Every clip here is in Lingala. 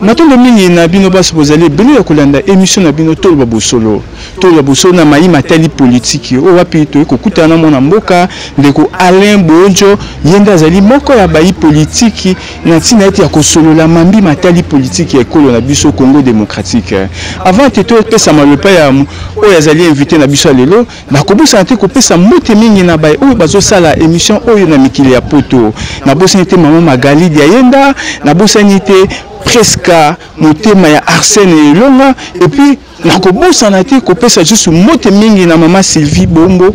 Matondo mingi na bino baso bozali ebele ya kolanda emission na bino toloba bosolo toloba bosolo na mayi matali politiki oyo wapi toyei kokutana na mwana mboka ndeko Alain Bojo ye nde azali moko ya bayi politiki na ntina ete ya kosolola mambi matali politiki ya ekolo na biso Congo démocratique avant te topesa malopa ya oyo azali invité na biso ya lelo Nakobosana te kopesa mbote mingi na baye oyo bazosala emission oyo na mikili ya poto. Nabosani te mama Magali Diayenda, nabosani te Preska motema ya Arsène Elonga et puis nakobosana te kopesa lisusu mbote mingi na mama Sylvie Bombo,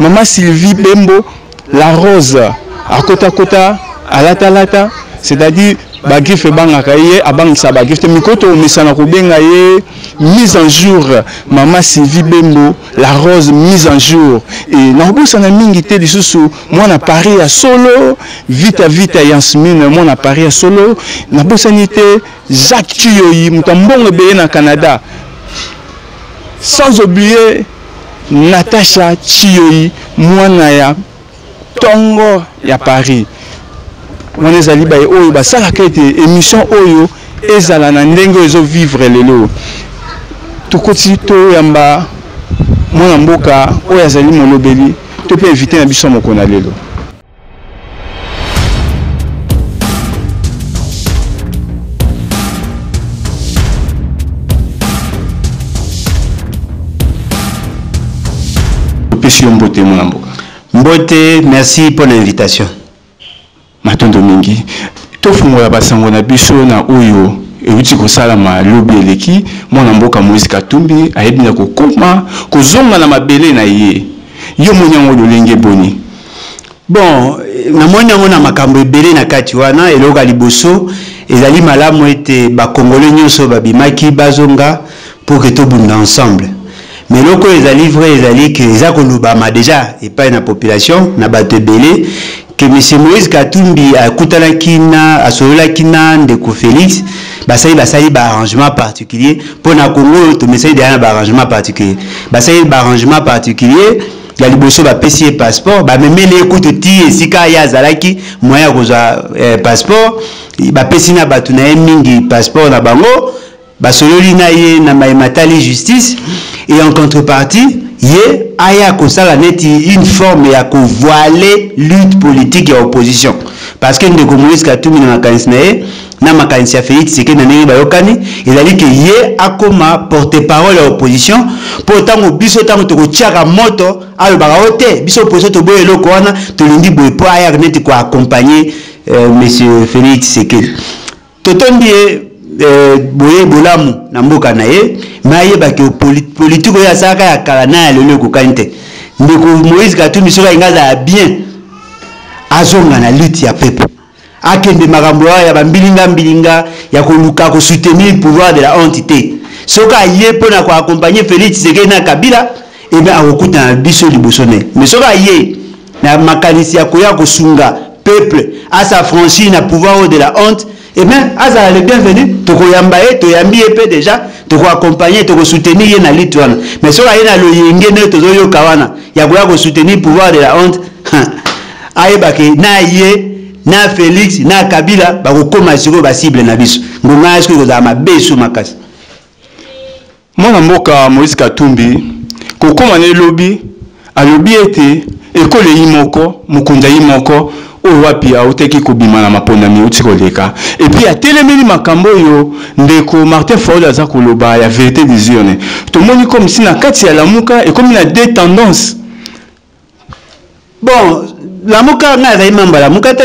mama Sylvie Bembo La rose akota kota alata lata c'est-à-dire bagrife ebangaka ye abangisa bagrife te mikolo tokomesana kobenga ye mise en jour mama sylvie bembo la rose mise en jour e nakobosana mingi te lisusu mwana paris ya solo vita vita yansmine mwana paris ya solo nabosani te jacques ciyoyi moto ya mbongo ebele na canada sans oublier Natacha Chiyoyi mwana ya tongo ya Paris wana ezali baye oyo basalaka ete émission oyo ezala na ndenge ezo vivre lelo tokoti toyamba mwana mboka oyo azali molobeli to mpe invité na biso mokona lelo topesi yo mbote mwana mboka mbote merci mpo na invitation matondo mingi tofungola basango na biso na oyo euti kosalama lobi eleki mwana mboka moise katumbi ayebi na kokoma kozonga na mabele na ye yo moni yango lolenge boni bon namoni yango na makambo ebele na kati wana eloko ya liboso ezali malamu ete bakongole nyonso babimaki bazonga pour que tobunda ensemble mais eloko oyo ezali vrai ezali ke eza kolobama deja epai na population na bato ebele ke monsieur moïse katumbi akutanaki na asololaki na ndeko félix basali basali baarrangement particulier mpo na kongo oyo tomesali deja na baarrangement particulier basali baarrangement particulier ya liboso bapesi ye passeport bamemeli ye kutu ti esika ye azalaki moyen ya kozwa eh, passeport bapesi na bato na ye mingi passeport na bango basololi na ye na mai matali justice et en contrepartie ye aya kosala neti une forme ya kovoile lutte politique ya opposition parce que ndeko moïse katumbi na makanisi na ye na makanisi ya Felix Tshisekedi na ndenge bayokani ezali ke ye akoma porte-parole ya opposition mpo ntango biso ntango tokotiaka moto alobaka o oh, te biso opposition toboya eloko wana tolingi boye mpo ayaka neti koaccompagne euh, monsieur Felix Tshisekedi totondi ye euh, boye bolamu na mboka na ye me ayebaki politike oyo asalaka ya kala na ya lelo ekokani te ndeko Moïse Katumbi soki alingi azala bien azonga na lutte ya pepe Akende makambo wana ya ba mbilinga mbilinga ya koluka ko soutenir pouvoir de la honte te. Soki aye mpo na ko accompagner Felix Tshisekedi na Kabila, eh bien akokutana biso liboso na ye. Mais soki aye na makanisi ya koya kosunga peuple a s'affranchir na pouvoir oyo de la honte, eh bien azala le bienvenu, tokoyamba ye, toyambi ye mpe deja, toko accompagner, toko soutenir ye na lutte wana. Mais soki aye na loyenge ndenge tozoyoka wana ya koya ko soutenir pouvoir de la honte, ayeba ke na ye na felix na kabila bakokoma sikoyo basible na biso ngonga ya sikoyo ekozala mabe so makasi mwana mboka moïse katumbi kokoma na elobi alobi ete ekolo eyi moko mokonzi ayi moko oyo wapi autaki kobima na maponami euti koleka epuis atelemeli makambo oyo ndeko martin faul aza koloba ya verité des urnes tomoni comme si na kati ya lamuka ekomi na deux tendances bon lamuka ngai azali mamba lamuka te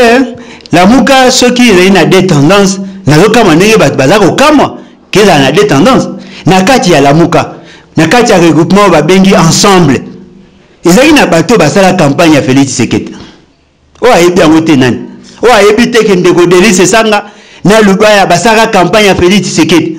lamuka soki ezali na de tendance nazokamwa ndenge bato baza kokamwa kezala na de tendance na kati ya lamuka na kati ya regroupement oyo babengi ensemble ezalaki na bato basala campagne ya félix tshisekedi oyo ayebi yango te nani oyo ayebi te ke ndeko delis esanga na lubaya basalaka campagne ya felix tshisekedi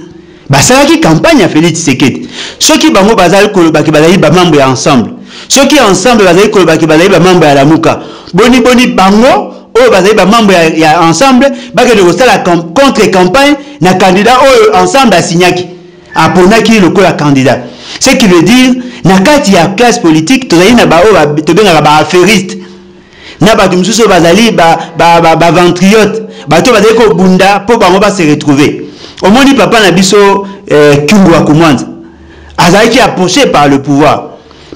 basalaki campagne ya felix tshisekedi soki bango bazali kolobaki bazali bamambo ya ensemble soki ensemble bazali kolobaki bazali bamambo ya lamuka boniboni bango oyo bazali bamambo ya, ya ensemble bakende kosala contre campagne na candidat oyo ensemble asignaki aponaki ye lokola candidat ce qui veut dire na kati ya classe politique tozali na baoyo tobengaka baaferiste na bato mosusu bazali baventriote ba, ba, ba bato bazali kobunda mpo bango base retrouve omoni papa na biso eh, kyungu akumwanza azalaki approche par le pouvoir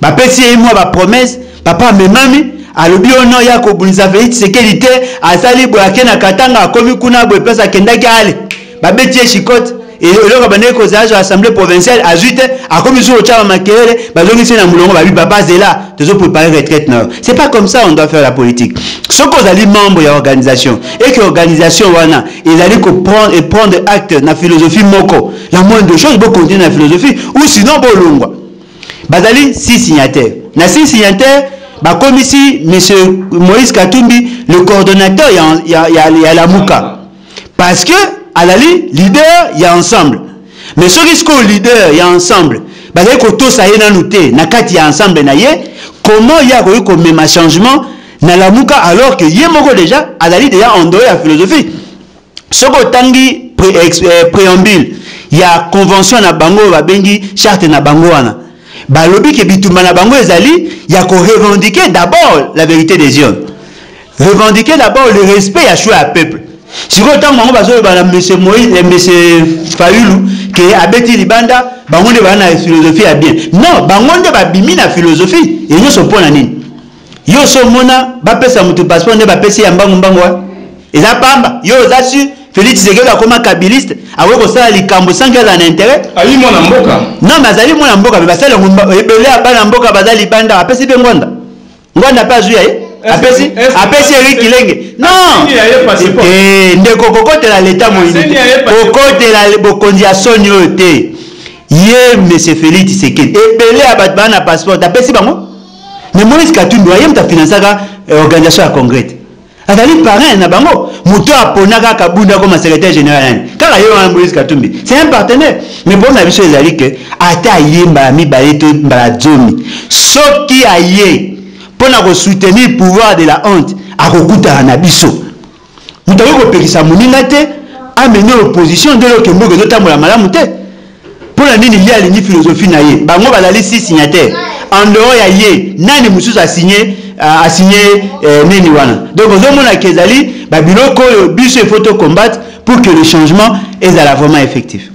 bapesi ye mwa bapromese papa amemami alobi oyo no ya kobundisa fei tisekedi te asali boye ake na katanga akomi kuna boye place akendaki ale babeti ye shikote eloko abandaki kozala azwa assemblée provinciale azwi te akomi lisusu kotyama makelele bazongisi na molongo babi papa zela tozo préparer retraite na yo c'est pas comme ça on doit faire la politique soki ozali membre ya organisation et que organisation wana ezali koprendre et prendre acte na philosophie moko la moindre chose bokontinue na philosophie ou sinon bolongwa bazali si signataire na si signataire bakomisi monsieur moïse katumbi le coordonnateur ya, ya, ya, ya lamuka parce que azali leader ya ensemble mais soki sikoyo leader ya ensemble bazali kotosa ye nanu te na kati ya ensemble na ye comment ye akoki komema changement na lamuka alors que ye moko déjà azali déjà endore ya philosophie soki otangi pre, eh, preambule ya convention na bango oyo babengi charte na bango wana balobi ke bitumba na bango ezali ya korevendiquer d'abord la vérité des urnes revendiquer d'abord le respect ya choix ya peuple sikoyo ntango bango bazoloba na monsieur moïse eh, monsieur fayulu ke abeti libanda bango nde baa na philosophie ya bien non bango nde babimi na philosophie enyonso mpo na nini Yo so mona ba pesa mutu passeport nde ba pesi ya mbangu mbangu wa. Eza pamba. Yo oza su Felix Tshisekedi akoma kabiliste, akoki kosala likambo sans qu'elle en intérêt. Ali mwana mboka. Non mais azali mwana mboka mais basala ngumba ebele ya bana mboka baza libanda apesi pe ngwanda. Ngwanda pe azwi ya ye. Apesi apesi Eric Kilenge. Non. Eh ndeko kokotela leta moyini. Kokotela bokonzi ya soni oyo te. Ye monsieur Felix Tshisekedi ebele ya bato bana passeport apesi bango mais moïse katumbi waye moto afinansaka eh, organisation ya congrès te azali parrain na bango moto apona kaka bunda koma secrétaire général nani kaka ye wana moïse katumbi c'est un partenaire mais problème na biso ezali ke ata aye mbala mibale to mbala zomi soki aye mpo na kosoutenir pouvoir de la honte akokutana na biso moto akoki kopekisa moninga te amene opposition nde oyoke mboka ezotambola malamu te mpo na nini ye alingi filozofi na ye bango bazali si signataire en dehors ya ye nani mosusu asigne euh, asigne eh, nini wana donc ozomona ke ezali babiloko oyo biso ifo to combattre pour que le changement ezala vraiment effectif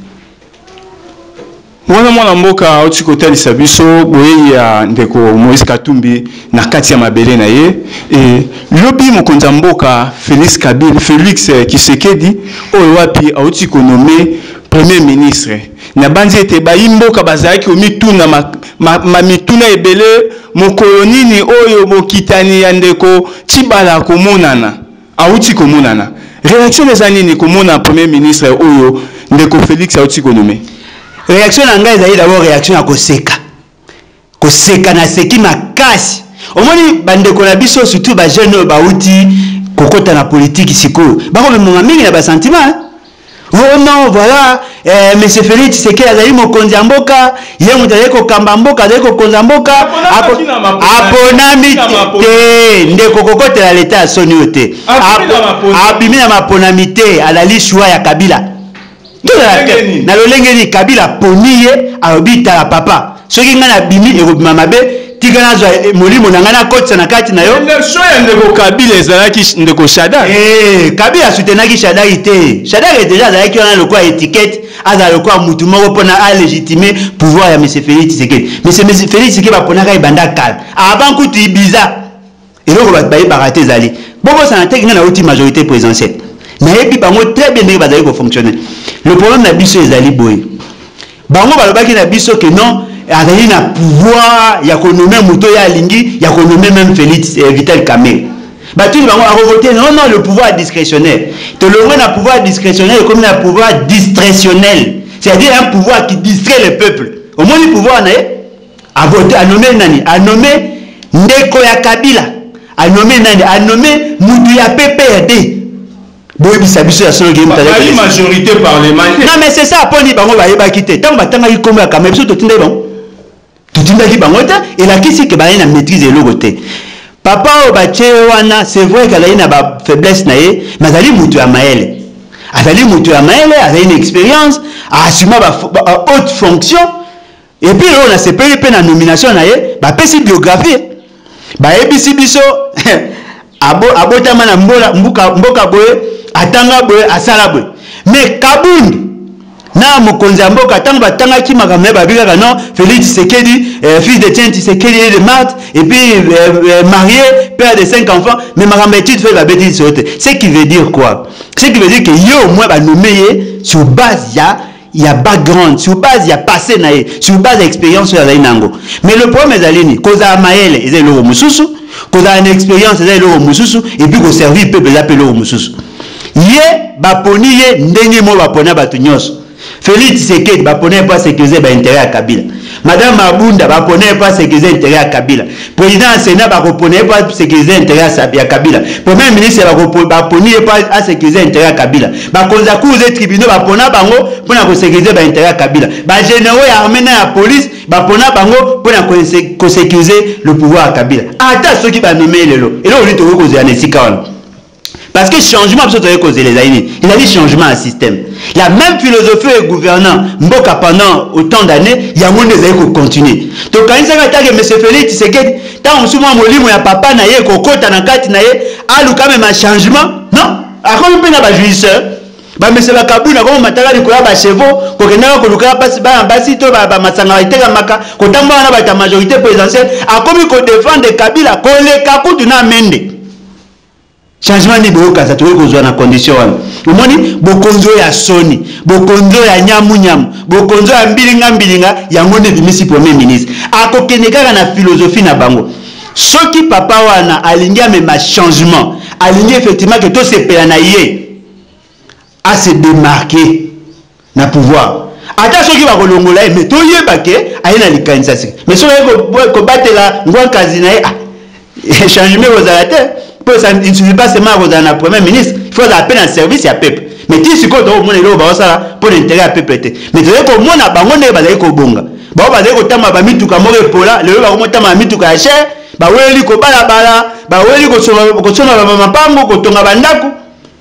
Wana mwana mboka auti kotalisa biso boyei ya ndeko Moïse Katumbi na kati ya mabele na ye e, lobi mokonzi ya mboka Felix Kabila, Felix Tshisekedi oyo wapi auti konome premier ministre. Nabanzi ete bayi mboka bazalaki komituna ma, ma, ma mituna ebele, mokolo nini oyo bokitani ya ndeko Tshibala akomonana? Awuti komonana. Reaction na eza nini komona premier ministre oyo ndeko Felix awuti ko nommer? Reaction na ngai ezali d'abord reaction ya koseka. Koseka naseki makasi. Omoni ba ndeko na biso surtout ba jeunes oyo bawuti kokota na politique sikoyo. Bako memonga mingi na ba sentiments hein. Oh non voilà eh, monsieur Felix Tshisekedi azali mokonzi ya mboka, ye moto azali kokamba mboka, azali kokonza mboka, aponami te ndeko, kokotela leta ya soni oyo te, abimi na maponami te, alali shua ya Kabila na lolenge nini Kabila aponi ye, alobi tala papa soki ngai nabimi ekobima mabe tika nazwa eh, molimo na ngai nakotisa na kati na yo version ya ndeko kabila ezalaki ndeko shadak hey, eh, kabila asutenaki shadaki te shadaki deja azalaki wana lokola etikete azala lokola motu moko mpona alegitime pouvoir ya mese félix tshisekedi mese félix tshisekedi baponaka ebanda kala avant kutu ibiza eloko bato bayebaka te ezali bobosana te ngai nauti majorité présidentielle nayebi bango très bien ndenge bazali kofonctionne le problème na biso ezali boye bango balobaki na biso ke non azali na pouvoir ya konome moto oyo alingi ya konome meme félix eh, vital kamere batuni bango akovote non non le pouvoir discrétionnaire tolongwe na pouvoir discrétionnaire ekomi na pouvoir distrationnel c'est-à-dire un pouvoir qui distrait le peuple omoni pouvoir na ye A vote, a nomme nani? A nomme ndeko ya Kabila. A nomme nani? A nomme mutu ya PPRD. boyebisa biso ya solo geimtalai majorité parlementaire non mais c'est ça aponi bango bayebaki te ntango batangaki nkombo ya kama biso totindaki bango totindaki bango te elakisi ke bazali na maîtrise eloko te papa oyo batye ye wana c'est vrai ke azali na bafaiblesse na ye mais azali moto ya mayele azali moto ya mayele azali na expérience aasuma ba haute fonction Et puis oyo nasepeli mpe na nomination na ye bapesi biographie bayebisi biso abo, abotama na mbola, mbuka, mboka boye atanga boye asala boye mais kabundi na mokonzi ya mboka ntango batangaki makambo naye babi kaka non félix tshisekedi euh, fils de tien tshisekedi et de marte et puis euh, euh, marié père de cinq enfants mais makambo ya étude fai babeti liso te ce qui veut dire quoi ce qui veut dire que ye au moins banome ye sur base ya ya background sur base ya passé na ye sur base ya expérience oyo azali na yango mais le problème ezali nini kozala mayele eza eloko mosusu kozala na expérience eza eloko mosusu epuis koservir peuple eza mpe eloko mosusu ye baponi ye ndenge moko bapona bato nyonso felix tshisekedi bapona ye mpo asecurise bainteret ya kabila Madame Abunda bapona ye mpo asekirize intere ya Kabila. President ya Senat bakopona ye mpo asekirize intere ya Kabila. Premier ministre baponi ye mpo asekirize intere ya Kabila. Bakonzi ya cours et tribunaux bapona bango mpo na kosekirize baintere ya Kabila. Bageneraux ya armée na ya police bapona bango mpo na kosekirize le pouvoir ya Kabila. Ata soki banome ye lelo, eloko nini tokoki kozela na esika wana? Parce que changement biso toye kozela ezali nini ezali changement ya système la même philosophie oyo egouvernant mboka pendant autant d'années yango nde ezali kocontinue tokanisaka atake monsieur félix tshisekedi ntango mosusu mwa molimo ya papa na ye kokota na kati na ye aluka mema changement non akomi mpe na bajugisseur bamese bakabuna koma mataka likolo ya bachevaux kokendaka kolukaka mpasi bana basi to bamasanga batekamaka kotambola na bato ya majorité présidentielle akomi kodefendre kabila koleka kutu na mende changement nini boyokasa tokoki kozwa na condition wana omoni bokonzi oyo ya soni bokonzi oyo ya nyamunyamu bokonzi oyo ya mbilingambilinga yango nde ebimisi premier ministre akokende kaka na philosophie na bango soki papa wana alingi amema changement alingi effectivement ke tosepela na ye a se demarquer na pouvoir ata soki bakolongola ye mais toyeba ke aye na likanisa sika mais soki aye kobatela ngwankazi na ye ah, changement ekozala te mpo il suffit pas seulement akozala na premier ministre il faut azala mpe na service ya peuple mais ti sikoyo tokomona eloko baosala mpo na interet ya peuple te mais tozali komona bango ndenge bazali kobonga bango bazali kotambala bamituka moko epola lelo bakomotambala mituka ya chere baweli kobalabala baweli kosomba bamamapango kotonga bandako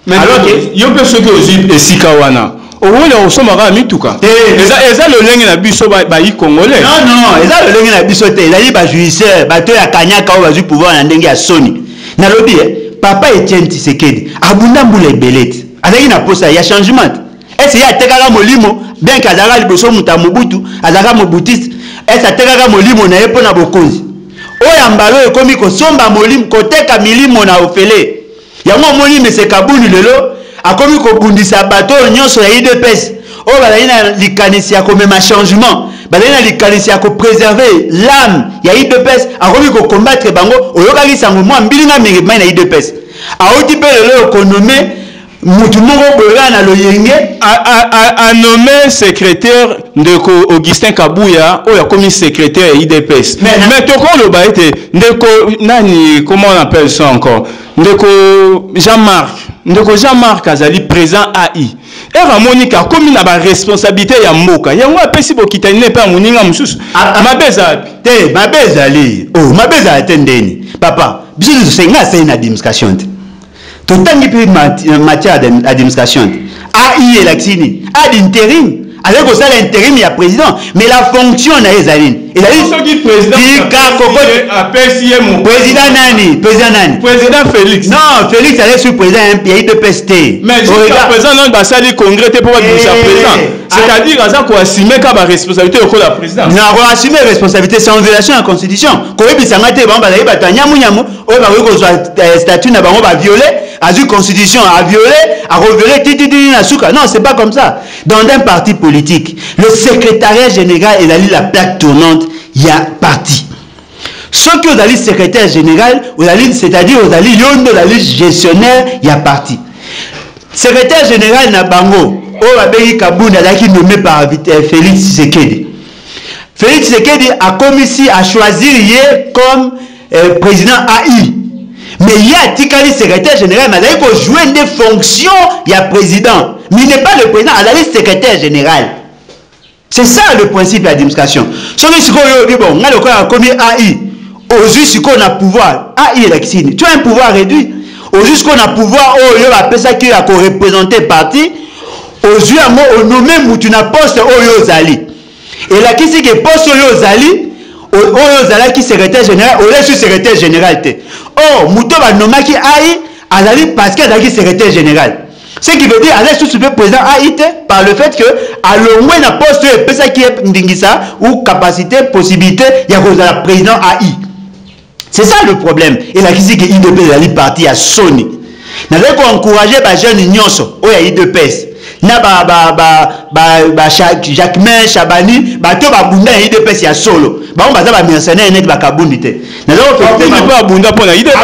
Alors que yo pe soki ozui esika wana okoki na kosomba kaka mituka eh. eza, eza lolenge na biso bayi ba congolais non non eza lolenge na biso te ezali bajouisseur bato ya kanyaka oyo bazwi pouvoir na ndenge ya soni nalobi e papa etienne tisekedi abunda mbula ebele te azalaki na mposa ya changement ese ye atekaka molimo bien ke azalaka liboso moto ya mobutu azalaka mobutiste ese atekaka molimo na ye mpo na bokonzi oyo ya mbala oyo ekomi kosomba molimo koteka milimo na ofele Yango omoni monsieur Kabund lelo akomi kobundisa bato oyo nyonso ya udps oyo bazali na likanisi ya komema changement bazali na likanisi ya kopreserve lame ya udps akomi kokombatre bango oyokaki sango mwa mbilinga mingi mai na udps auti mpe lelo oyo konome mutu moko boye kaka na loyenge anome secrétaire ndeko augustin kabuya oyo akomi secrétaire ya idps mais tokoloba ete ndeko nani comment on appelle ça encore ndeko jean marc ndeko jean marc azali présent ai ere amoni ke akomi na baresponsabilité ya mboka yango apesi bokitani ne mpe ya moninga mosusu ah, ah. mabe eza wapi te mabe ezali o oh, mabe ezala te ndeni papa biso nyonso nga asali na administration te totangi mpe matière administration te ai elakisi nini ad interim azali kosala interim ya président mais la fonction na ye ezali nini ezali soki président tika kokoti apesi ye mo président nani président nani président Félix non Félix azali sur président ya IPPS te mais jusqu'à présent nani basali congrès te mpo babimisa eh, président ah. c'est-à-dire aza koassume ka baresponsabilité lokola président na koassume responsabilité c'est en violation ya constitution koyebisa ngai te bango bazali bato ya nyamunyamu oyo bakoki kozwa eh, statut na bango baviole azwi constitution aviole akoviole tititini na suka non c'est pas comme ça Dans un parti politique, le secrétariat général ezali la plaque tournante ya parti. soki ozali secrétaire général ozali c'est-à-dire ozali yo nde ozali gestionnaire ya parti secrétaire général na bango oyo babengi kabunda azalaki nommé par euh, félix tshisekedi félix tshisekedi akomisi achoisir ye comme eh, president ai mais ye atikali secrétaire général mais azali kojoue nde fonction ya président mais n'est pas le président azali secrétaire général c'est ça le principe ya administration soki sikoyo oyobi bon ngai lokola akomi ai ozwi sikoyo na pouvoir ai elakisi nini tu as un pouvoir réduit ozwi sikoyo na pouvoir oyo bapesaki ya korepresente parti ozwi yango onome mutu na poste oyo ozali elakisi ke poste oyo ozali oyo ozalaki secrétaire général olesi secrétaire général te or moto banomaki ai azali parce que azalaki secrétaire général ce qui veut dire aza lisusu mpe président ai te par le fait que alongwe na poste oyo epesaki ye ndingisa ou capacité possibilité ya kozala président ai c'est ça le problème elakisi ke idps ezali parti ya soni nazali koencourage bajeune nyonso oyo ya idps na ba, ba, ba, ba, ba jacquemin chabani bato babunda ya idps ya solo bango baza bamercenaire neti bakabundi te mpe abunda mpo na idps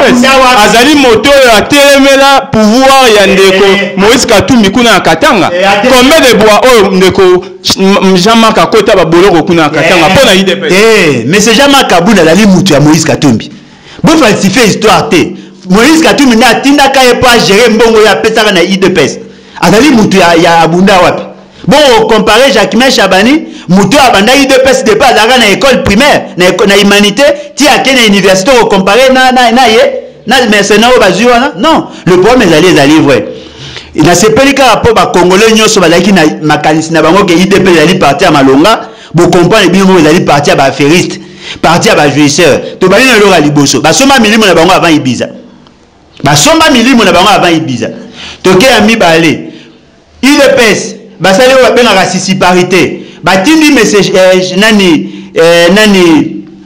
azali moto oyo atelemela pouvoir ya eh, ndeko eh, eh. moïse katumbi kuna ya katanga combien de bois oyo ndeko Jean Marc akota ba boloko kuna Katanga mpo na UDPS. Eh, mais c'est Jean Marc Kabund azali mutu ya Moïse Katumbi. Bo falsifier histoire te. Moïse Katumbi nde atindaka ye mpo agere mbongo ye apesaka na UDPS. Azali mutu ya, ya abunda wapi? Bo comparer Jacquemin Chabani mutu abanda UDPS depuis azalaka na école primaire na, na humanité ti ake na université ko comparer na, na, na ye na mercenaire oyo bazwi wana non le problème ezali ezali vrai nasepeli kaka mpo bakongole nyonso bazalaki na makanisi na bango ke idp ezali parti ya malonga bokomprane bino moko ezali parti ya baaferiste parti ya bajouisseur tobandi na eloko ya liboso basomba milimo na bango avant ibiza basomba milimo na bango avant ibiza toke ya mibale udps basali oyo babengaka sisiparité batindi mese eh, nani eh, nani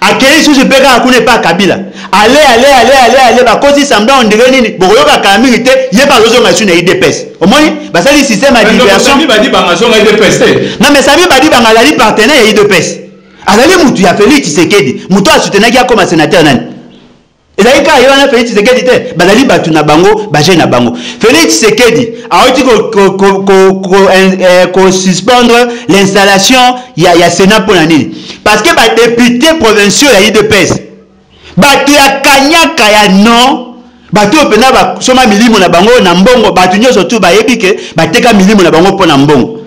Akeyi susu pe kaka kuna epa Kabila. Aller aller aller aller aller bakosi semblant on dirait nini bokoyoka kala mingi te ye pe azozonga lisusu na udps omoni basali système ya diversion Sami Badibanga azonga udps te non mais Sami Badibanga azali partenaire ya udps azali mutu ya Felix Tshisekedi mutu a soutenaki akoma sénateur nani ezali kaka ye wana felix tshisekedi te bazali bato na bango bajei na bango felix tshisekedi awuti kosuspendre eh, l'installation ya, ya sénat mpo na nini parce que badepute provinciaux ya udps bato ya kanyaka ya non bato oyo mpenza basoma milimo na bango na mbongo bato nyonso tu bayebi ke bateka milimo na bango mpo na mbongo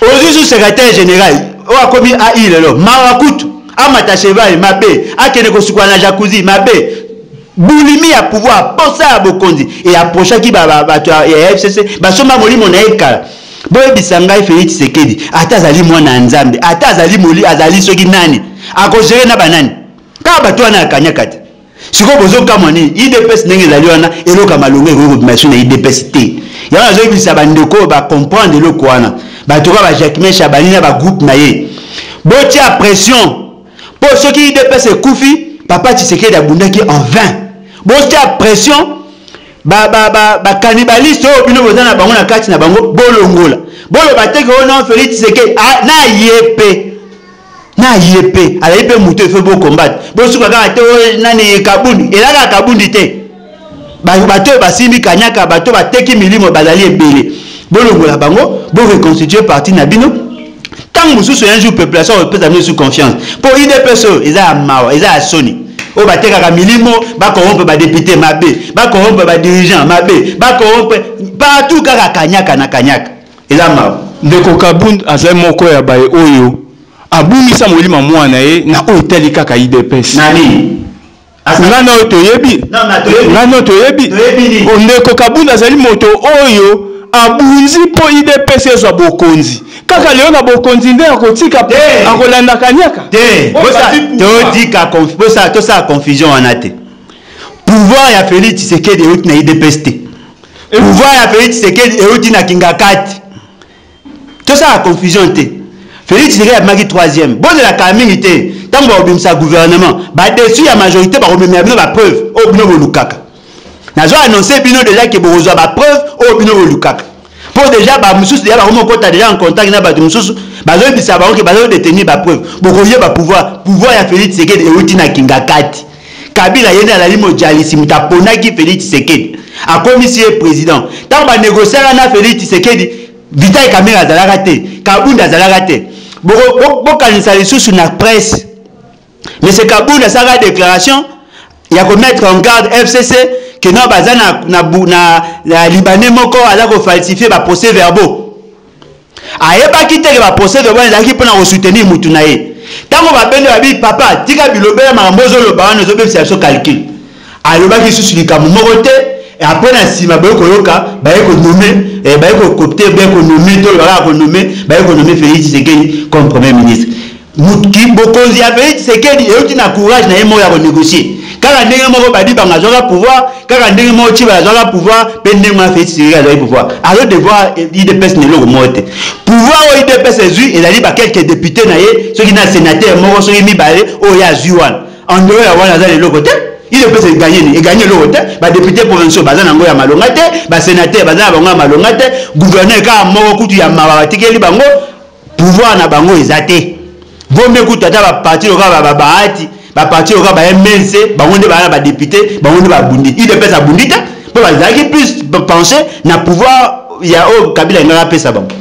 Ozui sous secretaire general oyo akomi AI lelo mawa kutu amata cheval mabe akende kosukola na jacuzzi mabe bulimi ya pouvoir posa ya bokonzi e approchaki bato ya FCC basomba molimo na ye kala boyebisa ngai Felix Tshisekedi ata azali mwana ya Nzambe ata azali moli azali soki nani akozere na banani kaka bato wana ya kanyaka te sikoyo bozokamwa nini idps ndenge ezali wana eloko ya malonga ekoki kobima esu na idps te yango nazoyebisa bandeko oyo bacomprendre eloko wana bato kaka bajacquemin chabani na bagroupe na ye botia pression mpo soki idps ekufi papa tshisekedi abundaki en 20 botia pression bakanibaliste oyo bino boza na bango na kati na bango bolongola boloba teke oyo non felix tshisekedi ah, na ye mpe na ye mpe azali mpe moto efo bokombate bosuka kaka te oh, nani kabundi elaka kabundi te bato oyo basimbi kanyaka bato oyo bateki milimo bazali ebele bolongola bango boreconstitue parti na bino ntango mosusu un jour population kopesa bino su confiance mpo idps oyo eza ya mawa eza ya soni oyo batekaka milimo bakorompe badepute mabe bakorompe badirigant mabe bakorompe partout kaka kanyaka na kanyaka eza mawa ndeko kabund azali moko ya baye oyo abungisa molima mwana ye na oyo etali kaka idps nani nga na oyo toyebi nga na oyo toyebi ndeko kabund azali moto oyo abunzi mpo idps ezwa bokonzi kaka lelo na bokonzi nde akotika akolanda kaniaka te totika tosala confusion wana te pouvoir ya félix tshisekedi euti na idps te pouvoir ya felix tshisekedi euti na kingakati tosala confusion te felix tshisekedi abimaki 3e bozelaka mingi te ntango bakobimisa gouvernement badesu ya majorité bakomemela bino bapreuve oyo bino bolukaka nazo annonce bino deja ke bokozwa bapreuve oyo bino bolukaka mpo deja bamosusu deja bakomi kokota deja en contact na bato mosusu bazoyebisa bango ke bazodetenir bapreuve bokoyeba pouvoir pouvoir ya felix tshisekedi euti na kingakati kabila ye nde alali mojalisi moto aponaki felix tshisekedi akomisi ye président ntango banegociaka na felix tshisekedi vital kamere azalaka te kabunda azalaka te bokanisa lisusu na presse monsieur kabunda asalaka déclaration ya komettre en garde fcc keno baza na, na, na, na libanais moko aza kofalsifie baprocès verbaux ayebaki te ke ba procès verbal ezalaki mpona ko soutenir mutu na ye ntango babende babi papa tika bilobela makambo ozoloba wana ozobebisa biso calcul alobaki lisusu likambo moko te apres na nsima baye koyoka baye konome eh, baye kokopte baye konome to bakaka konome baye konome félix tshisekedi comme premier ministre bokonzi ya felix tshisekedi euti na courage na ye moko ya konegocie kaka ndenge moko badibanga azwaka pouvoir kaka ndenge moko ciba azwaka pouvoir mpe ndenge wana felix tshisekedi azwaki pouvoir azo devoir idps na eloko moko te pouvoir oyo idps ezwi ezali bakelke depute na ye soki na sénateur moko soki mibale oyo ye azwi wana andeo ya wana aza na eloko te idps eganye nini eganye eloko te badepute provinciaux baza na yango ya malonga te basénateur baza na bango ya malonga te gouverneur kaka moko kutu ya mawa batikeli bango pouvoir na bango eza te bombe kutu ata baparti lokola bababahati baparti lokola ba mnc bango nde baa na badepute bango nde babundi udps abundi te mpo bazalaki plus penche na pouvoir ya oyo kabila engaka apesa bango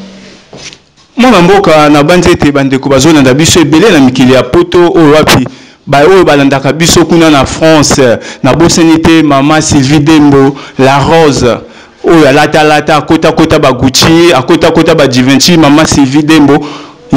mwana mboka nabanzi ete bandeko bazolanda biso ebele na mikili ya poto oyo wapi baoyo balandaka biso kuna na france nabosani te mama sylvie dembo la rose oyo alata alata akota kota ba Gucci akota kota ba Givenchy mama Sylvie Dembo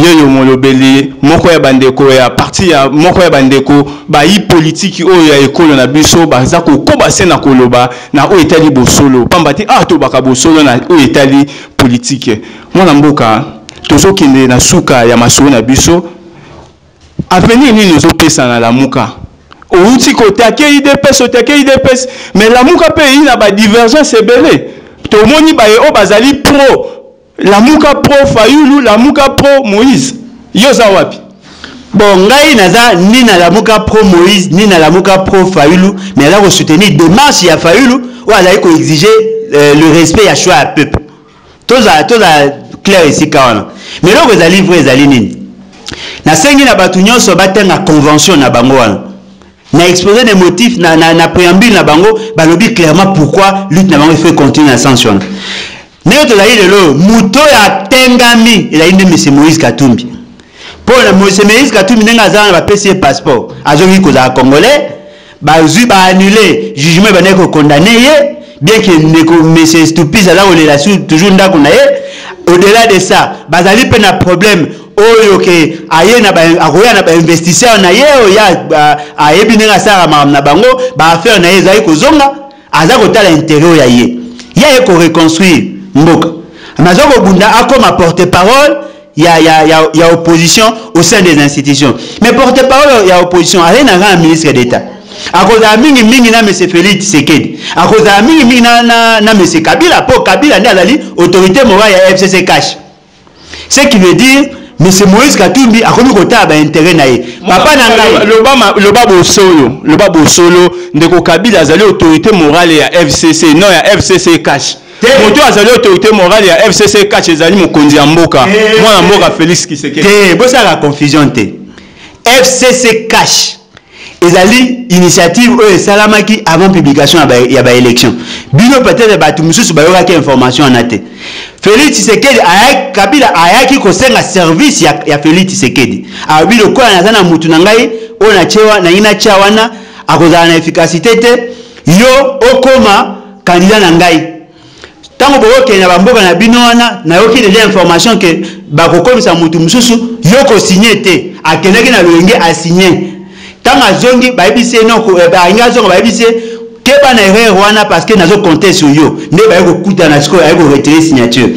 yeyo molobeli moko ya bandeko ya parti ya moko ya bandeko bayi politiki oyo ya ekolo na biso baza kokoba se na koloba na oyo etali bosolo pamba te awa tobaka bosolo na oyo etali politike mwana mboka tozokende na suka ya masolo na biso Avenir nini ozo pesa na lamuka? Owuti ko taquer udps, o taquer udps, mais lamuka pe eyi na ba divergences ebele. Tomoni baye oyo bazali pro lamuka, pro fayulu, lamuka, pro moise. Yo oza wapi? Bon ngai naza ni na lamuka pro moise ni na lamuka pro fayulu mais naza ko soutenir demarche ya fayulu oyo azali ko exiger euh, le respect ya choix ya peuple. tozala tozala claire esika wana mais eloko ezali vrai ezali nini nasengi na bato nyonso batanga convention na bango wana na exposé des motifs na, na, na préambule na bango balobi clairement pourquoi lutte na bango il faut continuer na sens wana ndenge tozali lelo oyo moto oyo atengami ezali nde mese moïse katumbi mpo na mese moïse katumbi ndenge azala na bapesi ye passeport azongi kozala congolais bazwi ba annule jugement ebandaki ko condamne ye bien que ndeko monsieur stupis aza kolela sur toujours ndako na ye au delà de ça bazali mpe na problème oyo ke aye na akoya na bainvestisseur na ye oyo ayebi ndenge asalaka makambo na bango baaffaire na ye ezali kozonga Aza kotala interet oyo ya ye. Ye aye ko reconstruire mboka. Mais aza kobunda akoma porte parole ya, ya, ya, ya opposition au sein des institutions. Mais porte parole ya opposition aye na kaka ministre d'etat. Akozala mingi mingi na monsieur Felix Tshisekedi. Akozala mingi mingi na, na, na monsieur Kabila po Kabila nde azali autorité morale ya FCC cash. ce qui veut dire monsieur moïse katumbi akomi kotala baintere na ye papa na ngai loba bosolo loba bosolo ndeko kabila azali autorité morale ya fcc non ya fcc cash moto oyo azali autorité morale ya fcc cash ezali mokonzi ya mboka mwana mboka félix kisekete bosalaka confusion te fcc cash ezali initiative oyo esalamaki avant publication ya ba election bino peut-être bato mosusu bayokaki information wana te Felix Tshisekedi ayaki Kabila ayaki kosenga service ya, ya Felix Tshisekedi alobi lokola naza na mutu na ngai oyo natyewa nangi natya wana akozala na efficacité te yo okoma kandida na ngai Tango boko kende na ba mboka na bino wana nayoki deja information que bako komisa mutu mususu yo ko signer te akendaki na loyenge a signer tango azongi bayebisi ye non eh, alingi azonga bayebisi ye keba na erreur wana parce que nazo compter sur yo nde baye kokutana sikoyo aye ko retirer signature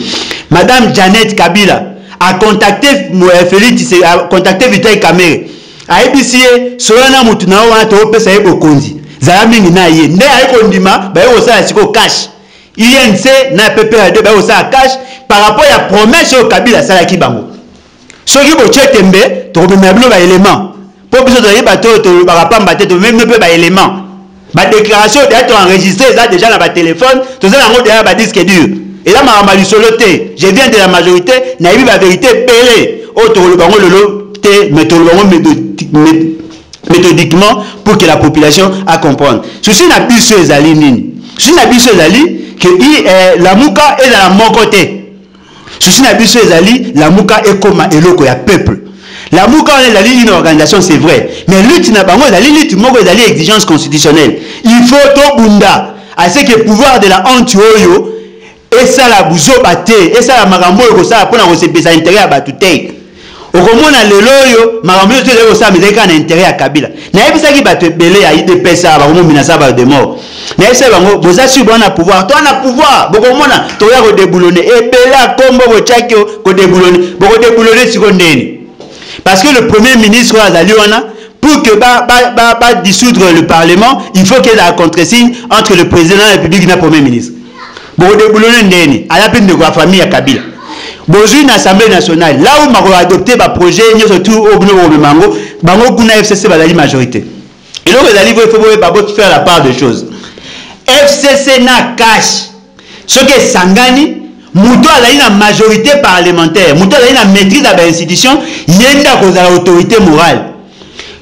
madame Janet Kabila a contacter eh, Felix a contacter Vital Kamerhe ayebisi ye solola na motu na yo wana toopesa ye bokonzi zala mingi na ye nde aye kondima baye kosala sikoyo cash inc na pprd baye kosala cash par rapport ya promesse oyo kabila asalaki bango soki botye tembe tokomemela bino baelement mpo biso tozali bato oyo tolobaka pamba te tomemi bino mpe baelement ba déclaration deja to enregistre eza deja na ba téléphone toza nango deja ba disque dur eza makambo ya lisolo te je viens de la majorité nayebi ba vérité ebele oyo oh, tokoloba yango lelo te mais tokoloba yango méthodiquement pour que la population a comprendre souci na biso ezali nini souci na biso ezali que eh, lamuka ezala moko te Souci na biso ezali lamuka ekoma eloko ya peuple. Lamuka wana ezali une organisation c'est vrai, mais lutte na bango ezali lutte moko ezali exigence constitutionnelle. Il faut tobunda à ce que pouvoir de la honte oyo esala buzoba te, esala makambo oyo ekosala mpo na kosepelisa interet ya bato te. okomona lelo oyo makambo nyonso ezali kosalama ezali kaka na intere ya kabila nayebisaki bato ebele ya idps awa bakomominasa bato de mort nayebisaki bango boza sur bwana pouvoir to wana pouvoir bokomona tokoya kodeboulone ebele ya nkombo botyaki kodeboulone bokodeboulone siko ndeni parce que le premier ministre oyo azali wana pour que ba, ba, ba, ba dissoudre le parlement il faut qu'il y ait la contre-signe entre le président de la république na premier ministre Boko deboulonner ndeni. Aza pe ndeko ya famille ya Kabila. Bozui na Assemblée nationale. Là où mako adopter ba projets nyoso tout au bino boko memango. Bango kuna FCC bazali majorité. eloko ezali vo ifo boyeba bo faire la part de choses fcc na cash soki esangani moto azali na majorité parlementaire moto azali na maîtrise ya bainstitution ye nde akozala autorité morale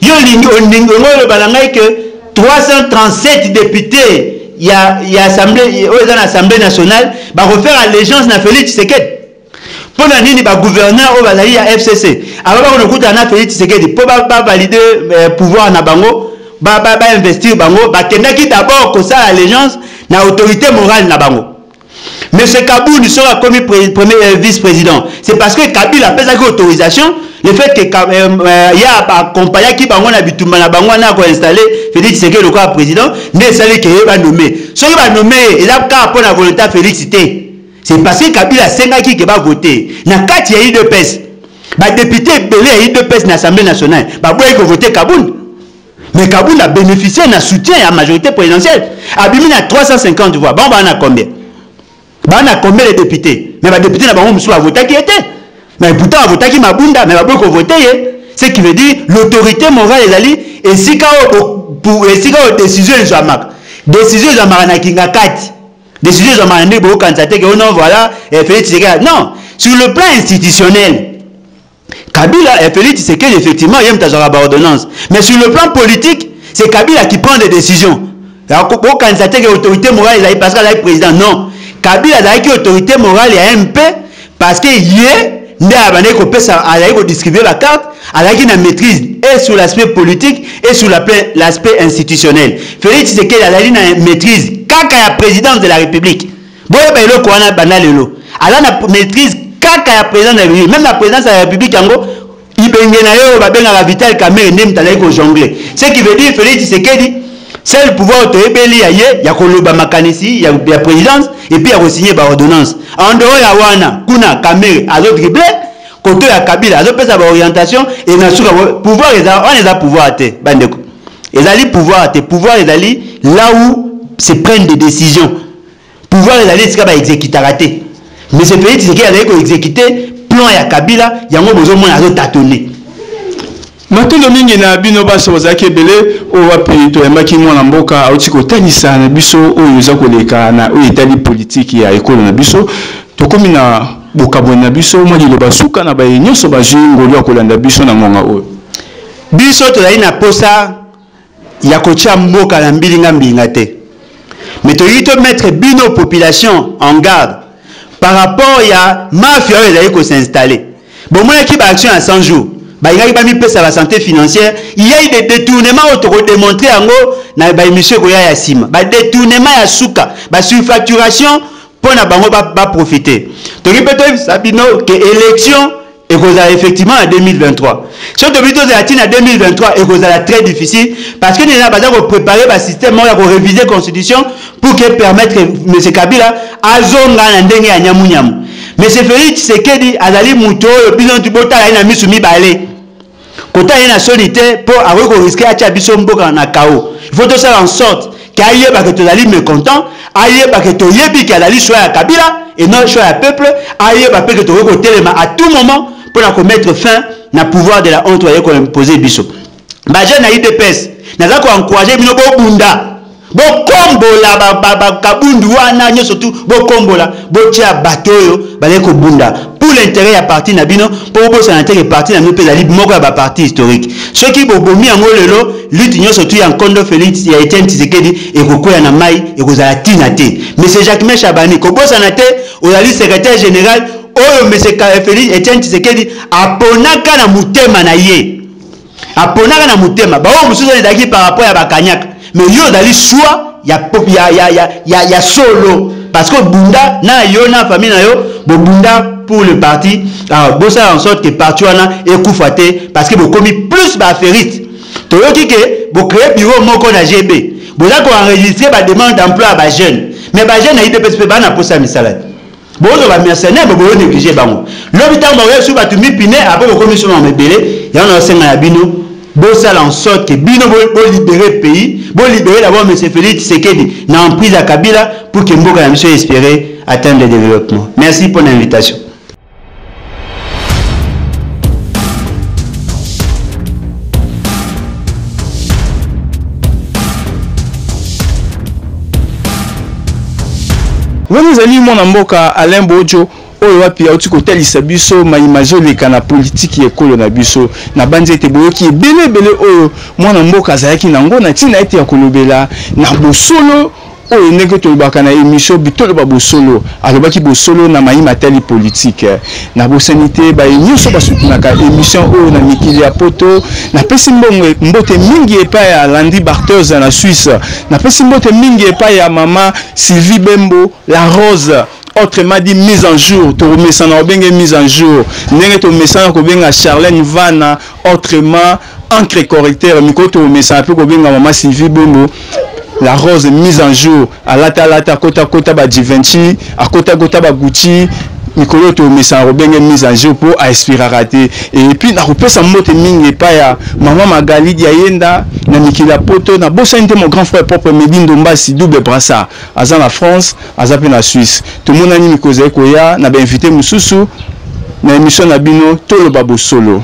Yo olingi olingi olingi oloba na ngai que 337 députés ya ya assemblée oyo eza na assemblée nationale bakofaire allégeance na Félix Tshisekedi mpo na nini bagouverneur oyo bazali ya FCC aba bakona kokutana na Félix Tshisekedi mpo bavalide ba eh, pouvoir na bango bainvestir ba, ba bango bakendaki d'abord kosala allégeance na autorité morale na bango Monsieur Kabund soki akomi premier euh, vice président, c'est parce que Kabila apesaki autorisation le fait que euh, euh, ye accompagnaki bango na bitumba na bango wana ako installe Félix Tshisekedi lokola président nde esali ke ye banome soki banome ye eza kaka mpo na volonté ya Félix te c'est parce que Kabila asengaki ke bavote na kati ya udps badepute ebele ya udps na assemblée nationale baboyaki kovote Kabund Mais Kabund a bénéficié na soutien ya majorité présidentielle. Abimi na 350 voix. Bango bana combien Bana combien les députés Mais ba députés na bango mususu ba votaki ete. Mais pourtant ba votaki Mabunda mais ba boyi ko voter ye. Ce qui veut dire l'autorité morale ezali esika oyo pour esika oyo décision ezwamaka. Décision ezwamaka na Kingakati. Décision ezwamaka nde bokanisa te que oh non voilà eh, Félix Tshisekedi. Non, sur le plan institutionnel Kabila et Félix Tshisekedi, effectivement, yem tazaka ba ordonnance. Mais sur le plan politique, c'est Kabila qui prend des décisions. Bokanisa te que autorité morale ezali parce que azali président. Non. Kabila azalaki autorité morale ya MP parce que ye nde abandaki kopesa azalaki kodistribue bacarte azalaki na maîtrise et sur l'aspect politique et sur l'aspect institutionnel. Félix Tshisekedi azali na maîtrise kaka ya présidence de la République. boyeba eloko wana banda lelo aza na maîtrise kaka ya président de la république même la présidence de la république yango ibenge na ye oyo babengaka vital kamere nde moto azali kojongle ce qui veut dire félix tshisekedi seul pouvoir toyebeli ya ye ya koloba makanisi ya, ya présidence epuis ya kosigne baordonnance en dehors ya wana kuna kamere azodrible koto ya kabila azopesa baorientation e na suka pouvoir eza wana eza pouvoir te bandeko ezali pouvoir te pouvoir ezali là où se prennent des décisions pouvoir ezali esika ba executaka te mais ce pays tshisekedi azali ko execute plan ya kabila yango bozomona azo tatone matondo mingi na bino basi bozalaki ebele oyo wapi toyambaki mwana mboka auti kotalisa na biso oyo eza koleka na oyo etali politiki ya ekolo na biso tokomi na bokabwani na biso mwa liloba suka na baye nyonso bazwi ngolu ya kolanda biso na ngonga oyo biso tozali na mposa ya kotia mboka na mbilinga mbilinga te mais tolingi to mettre bino population en garde par rapport ya mafia oyo ezali ko s'installer bomonaki ba action ya 100 jours balingaki bamipesa ba santé financière iyai de détournement oyo tokodemontre yango na baémission ekoya ya nsima badétournement ya suka basurfacturation mpo na bango baprofite ba toki mpe toyebisa bino ke élection ekozala effectivement na 2023 soki tobi tozala ntina 2023 ekozala très difficile parce que nena baza koprépare basystème moko ya koreviser constitution pour que permettre m kabila azonga na ndenge ya nyamunyamu m félix tshisekedi azali moto oyo bino botala ye na miso mibale kota ye na soni te mpo akoki koriske atya biso mboka na kao il faut tosala en sorte ke ayeba ke tozali mécontent ayeba ke toyebi ke azali choix ya kabila et non choix ya peuple ayeba mpe ke tokoki kotelema à tout moment mpo na komettre fin na pouvoir de la honte baye koimpose biso bajeune na idps naza koencourage bino bobunda bokombola bakabundu ba, ba, wana nyonso tu bokombola botia bato oyo bazali kobunda pour l'intérêt ya parti na bino mpo bobosana te ke parti na bino mpe ezali moko ya baparti historique soki bobomi yango lelo lutte nyonso tu ya nkondo félix ya etienne tisekedi ekokwea na mai ekozala ntina te monsieur jacquemain chabani kobosana te ozali secrétaire général oyo monsieur félix etienne tisekedi aponaka na motema na ye aponaka na motema baoyo mosusu ezalaki par rapport ya bakanyaka me yo ozali swa ya, ya, ya, ya, ya, ya solo parce que obunda na yo na famille na yo bobunda pour le parti ah, bosala en sorte que parti wana ekufa te parce que bokomi plus baaffairiste toyoki ke bocree bureau moko na gb boza koenregistre bademande d'emploi ya bajeune mais bajeune na idps mpe bana mposa ya misala te bozo ba mercenaire bo boyo négligé bango lobi tango bakoya biso bato mipine après bokomi biso mama ebele yango naosenga na bino bosala en sorte que bino bolibere bo pays bolibere d'abord monsieur félix tshisekedi na emprise ya kabila pour que mboka na biso espere atteindre le développement merci mpo na invitation wana ezali mwana mboka alain bojo oyo wapi auti kotalisa biso mai mazoleka na politiki ya ekolo na biso nabanzi ete boyoki ebele ebele oyo mwana mboka azalaki na yango na ntina ete ya kolobela na bosolo oyo ndenge tolobaka na emission bitoloba bosolo alobaki bosolo na mayi matali politike na bosani te baye nyonso basutunaka emission oyo na mikili ya poto napesi mbongo mbote mingi epai ya landi barters na suisse napesi mbote mingi epai ya mama sylvie bembo la rose autrement dit mise en jour tokomesana kobenge mise en jour ndenge tomesana kobenga charlene vana autrement encre correcteur mikolo tokomesana mpe kobenga mama sylvie bombo la rose mise en jour alata alata akota kota ba givenchy akota kota ba gucci mikolo oyo toomesana kobenge mise en jour mpo aexpiraka te epuis nakopesa mbote mingi epai ya mama magali diayenda na mikili ya poto nabosani te mon grand frère propre medi ndombasi double brassard aza na france aza mpe na suisse tomonani mikolo ezali koya na bainvité mosusu na émission na bino toloba bosolo